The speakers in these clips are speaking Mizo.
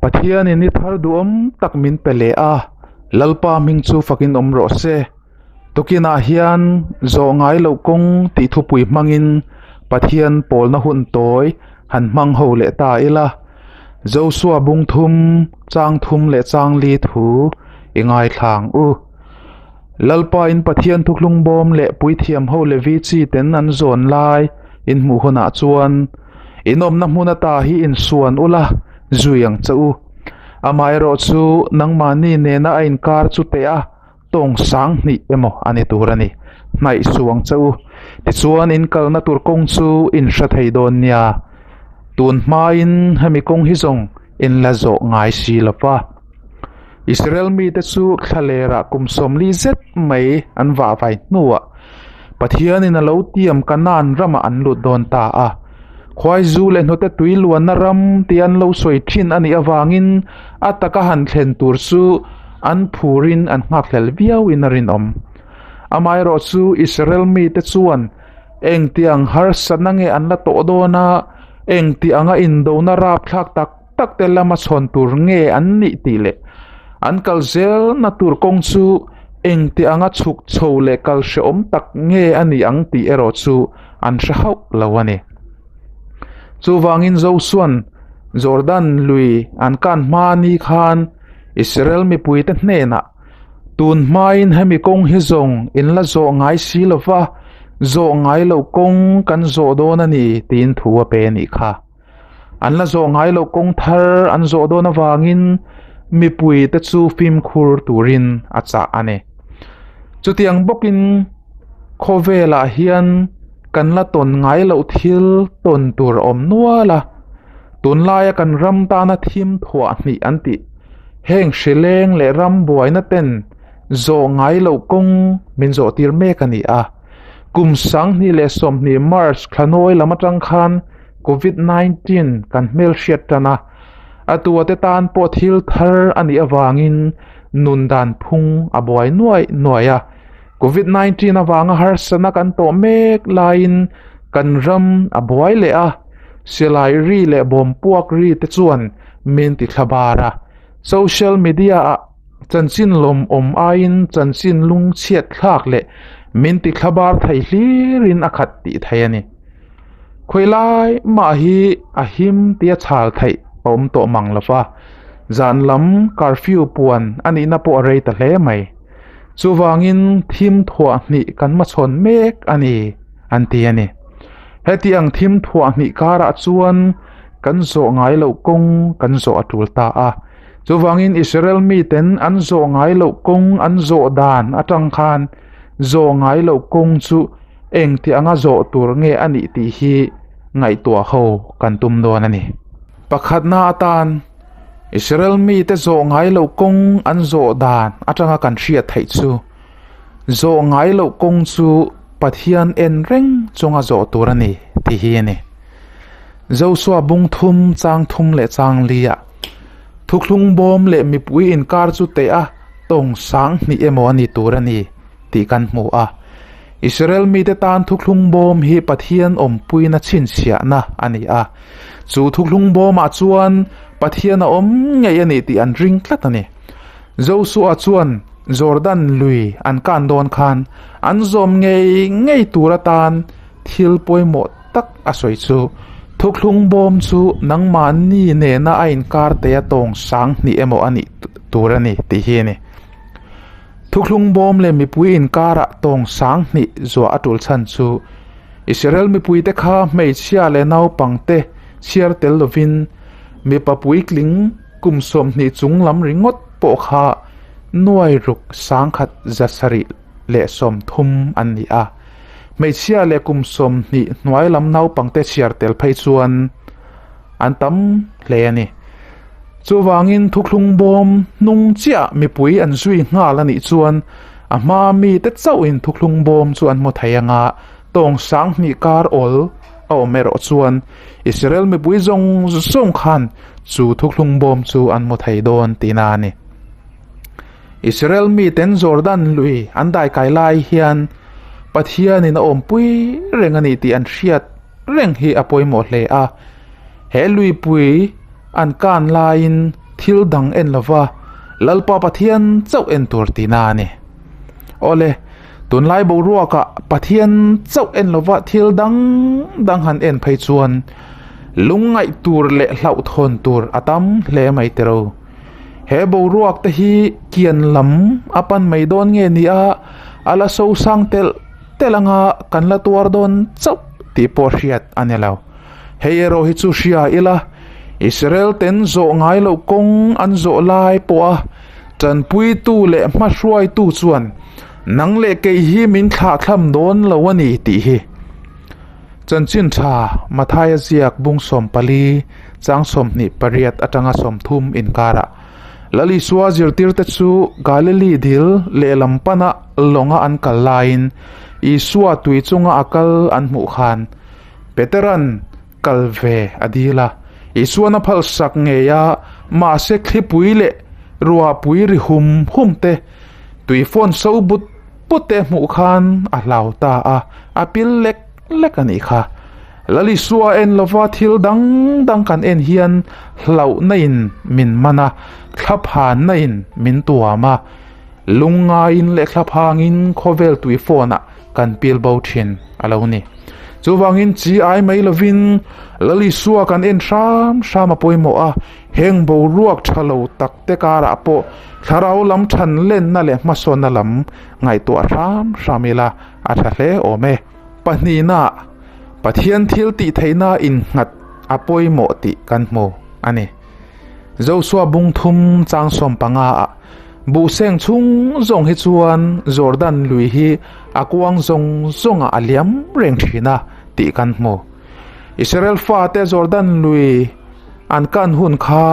Pathianin i thar duhawm tak min pe leh a, Lalpa hming chu fakin awm rawh se. Tukinah hian zawh ngai loh kawng tih thupui hmangin Pathian pawlna hun tawi han hmang ho leh ta ila, Josua bungthum, changthum leh changli thu i ngaithlang u. Lalpain Pathian thuklung bawm leh puithiam ho Levi chi ten an zawn lai inhmuh hunah chuan in awmna hmun ata hi insuan ula zui ang che u. Amah erawh chu nangmahni nena a inkar chu teh a tawng sang hnih emaw a ni tur a ni. Hnaih suh ang che u. Tichuan in kalna tur kawng chu in hre thei dawn nia. Tun hmain hemi kawng hi zawng in la zawh ngai si lo va. Israel mite chu thla lerah kum sawmli zet mai an vah vai hnuah Pathianin a lo tiam Kanan ramah an lut dawn ta a. Khuaizu leh hnute tui luanna ram tia an lo sawi thin a nih avangin a taka han thlen tur chu an phurin an nghakhlel viauin a rinawm. Amaherawh chu Israel mite chuan engtiang harsatna nge an la tawh dawn a, engtianga indona rapthlak tak, takte lama chhawn tur nge an nih tih leh an kal zelna tur kawng chu engti anga chhuk chho leh kal hrehawm tak nge a ni ang tih erawh chu an hre hauh lo a ni. Chuvangin Josuan Jordan lui an kan hma ni khan Israel mipuite hnenah, Tun hmain hemi kawng hi zawng in la zawh ngai si lova, zawh ngai loh kawng kan zawh dawn a ni, tiin thu a pe a nih kha. An la zawh ngai loh kawng thar an zawh dawn avangin mipui te chu fimkhur turin a chah a ni. Chutiang bawkin khawvelah hian kan la tawn ngai loh thil tawn tur a awm nual a, tunlaia kan ram tana thim thuah hnih an tih heng hrileng leh ram buaina ten zawh ngai loh kawng min zawh tir mek a ni a. Kum sanghnih leh sawmhnih, March, thlanawi lam atang khan Covid nineteen kan hmelhriat tan a, a tuate tan pawh thil thar a nih avangin nun dan phung a buai nuai nuai a. Covid nineteen avanga harsatna kan tawh mek laiin kan ram a buai leh a, silai ri leh bawmpuak ri te chuan min ti thla bar a, social media ah, Chanchin lawm awm aiin chanchin lung chhiatthlak leh min ti thlabar thei hlirin a khat tih thei a ni. Khawi lai mah hi a him tia chhal theih a awm tawh mang lo va, zan lam curfew puan a nihna pawh a rei ta hle mai. Chuvangin thimthuah hnih kan hmachhawn mek a ni, an ti a ni. Hetiang thimthuah hnih karah chuan kan zawh ngai loh kawng kan zawh a tul ta a. Chuvangin Israel miten an zawh ngai loh kawng an zawh dan atang khan zawh ngai loh kawng chu engti anga zawh tur nge a nih tih hi ngaihtuah ho kan tum dawn a ni. Pakhatna atan Israel mite zawh ngai loh kawng an zawh dan atanga kan hriat theih chu Zawh ngai loh kawng chu Pathian en reng chunga zawh tur a ni tih hi a ni. Joshua bung thum, chang thum leh chang lia, thukhlung bawm leh mipui inkar chu teha tawng sang hnih emaw a ni tur a ni tih kan hmu a. Israel mite tan thukhlung bawm hi Pathian awmpuina chhinchhiahna a ni a. Chu thukhlung bawmah chuan Pathian a awm ngei a nih tih an ring tlat a ni. Joshua chuan Jordan lui an kan dawn khan an zawm ngei ngei tur atan thil pawimawh tak a sawi chu, Thukhlung bawm chu nangmahni nena a inkar theih a tawng sang hnih emaw a nih tur a ni tih hi a ni. Thukhlung bawm leh mipui inkarah tawng sang hnih zuah a tul chhan chu Israel mipuite kha hmeichhia leh naupangte chhiar tel lovin mipa puitling, Kum sawmhnih chung lam ringawt pawh kha nuai ruk sangkhat za sarih leh sawmthum an ni a. Hmeichhia leh kum sawmhnih hnuai lam naupangte chhiar tel phei chuan an tam hle a ni. Chuvangin thukhlung bawm hnung chiah mipui an zui nghal a nih chuan a hma mite chauhin thukhlung bawm chu an hmu thei anga tawng sang hnih kar awl a awm erawh chuan Israel mipui zawng zawng khan chu thukhlung bawm chu an hmu thei dawn tina a ni. Israel mi ten Jordan lui an dai kai lai hian Pathianin a awmpui reng a ni tih an hriat reng hi a pawimawh hle a. He luipui an kan laiin thil dang en lova Lalpa Pathian chauh en tur tina a ni. Aw le, tunlai boruaka Pathian chauh en lova thil dang dang han en phei chuan lungngaih tur leh hlauhthawn tur a tam hle mai teh ro. He boruak te hi kian lam a pan mai dawn nge nia a la sosang telh telh anga kan la tuar dawn chauh tih pawh hriat a ni lo. Hei erawh hi chu hria ila, Israel ten zawh ngai loh kawng an zawh lai pawha, Tanpuitu leh hmahruaitu chuan nang leh kei hi min thlah thlam dawn lo a ni tih hi chanchin tha Mathaia ziak bung sawm pali chang sawm hnih pariat atanga sawm thum inkarah Lalisua zirtirte chu Galili dil lehlam pana lawnga an kal laiin Isua tui chunga a kal an hmuh khan Peteran kal ve a dil a, Isuan a phalsak ngei a, mahse thlipui leh ruahpui ri hum hum te, tui fawn so but but te hmuh khan a hlau ta a, a pil lek lek a nih kha. Lalisua en lova thil dang dang kan en hian hlauhna in min man a, thla phanna in min tuam a, lung ngaiin leh thla phangin khawvel tui fawnah kan pil bo thin a lo ni. Chuvangin chi ai mai lovin Lalisua kan en hram hram a pawimawh a, heng boruak tha lo takte karah pawh thlarau lam thanlenna leh hmasawnna lam ngaihtuah hram hram ila a tha hle awm e. Pahnihnah Pathian thil tihtheihna innghat a pawimawh tih kan hmu a ni. Joshua bungthum changsawm panga ah buhseng chhung zawng hi chuan Jordan lui hi a kuang zawng zawng ah a liam reng thin a tih kan hmu. Israel fate Jordan lui an kan hun kha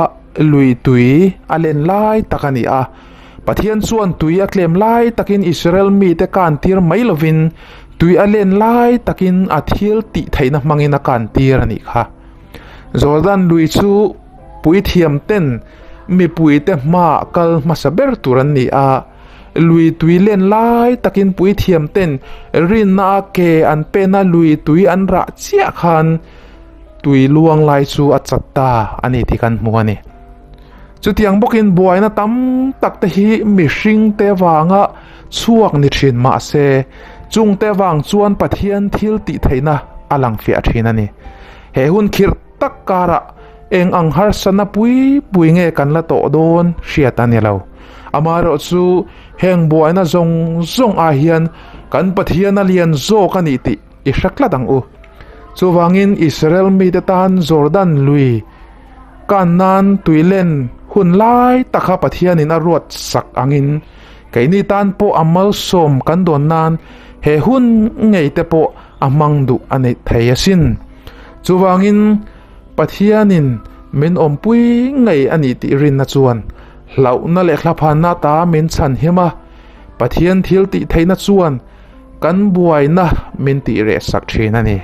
lui tui a len lai tak a ni a. Pathian chuan tui a tlem lai takin Israel mite kan tir mai lovin tui a len lai takin a thil tih theihna hmangin a kan tir a nih kha. Jordan lui chu puithiam ten mipui te hma kal hmasa ber tur an ni a, lui tui len lai takin puithiam ten rinna a ke an pen a lui tui an rah chiah khan tui luang lai chu a chat ta a ni tih kan hmu a ni. Chutiang bawkin buaina tam tak te hi mihring te vanga chhuak ni thin mahse, chungte vang chuan Pathian thil tih theihna a lang fiah thin a ni. He hun khirh tak karah eng ang harsa napui pui nge kan la tawh dawn hriat a ni lo. Amaherawh chu heng buaina zawng zawng ah hian kan Pathian a lian zawk a ni tih i hre tlat ang u. Chuvangin Israel mite tan Jordan lui kan nan tui len hun lai takah Pathianin a ruat sak angin, Keini tan pawh a malsawm kan dawn nan he hun ngei te pawh a hmang duh a neih thei a sin. Chuvangin Pathianin min awmpui ngei a nih tih rinna chuan hlauhna leh thlaphanna ta min chhan him a, Pathian thil tih theihna chuan kan buaina min tih reh sak thin a ni.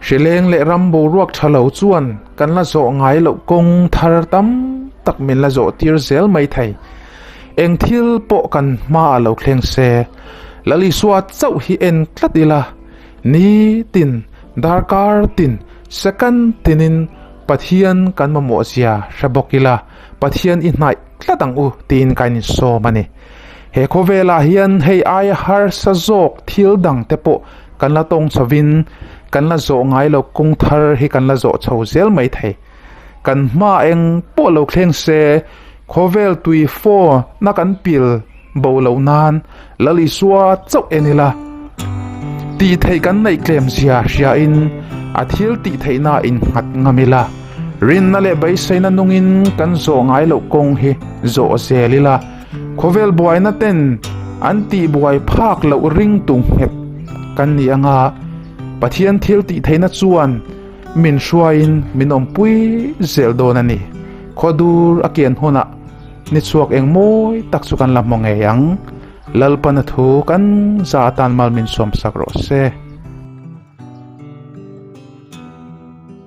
Hrileng leh ram boruak tha lo chuan kan la zawh ngai loh kawng thar tam tak min la zawh tir zel mai thei. Eng thil pawh kan hma a lo thleng se. Lalisua chauh hi en tlat ila, ni tin, darkar tin, second tinin Pathian kan mamawh zia hre bawk ila, Pathian i hnaih tlat ang u tiin kan insawm a ni. He khawvelah hian hei aia harsa zawk thil dang te pawh kan la tawng chho in kan la zawh ngai lo kawng thar hi kan la zawh chho zel mai thei. Kan hma eng pawh lo thleng se khawvel tui faw na kan pil bo loh nan Lali sua chauh en ila tih theih kan neih tlem zia hria in a thil tih theihna in nghat ngam ila. Rinna leh beiseina nungin kan zawh ngai loh kawng hi zawh zel ila khawvel buaina ten an tih buai phak loh ring tu nghet kan ni anga Pathian thil tih theihna chuan min hruaiin min awmpui zel dawn a ni. Khaw dur a kian hunah ni chhuak eng mawi tak chu kan la hmu ngei ang. Lalpana thu kan za atan mal min sawmsak rawh se.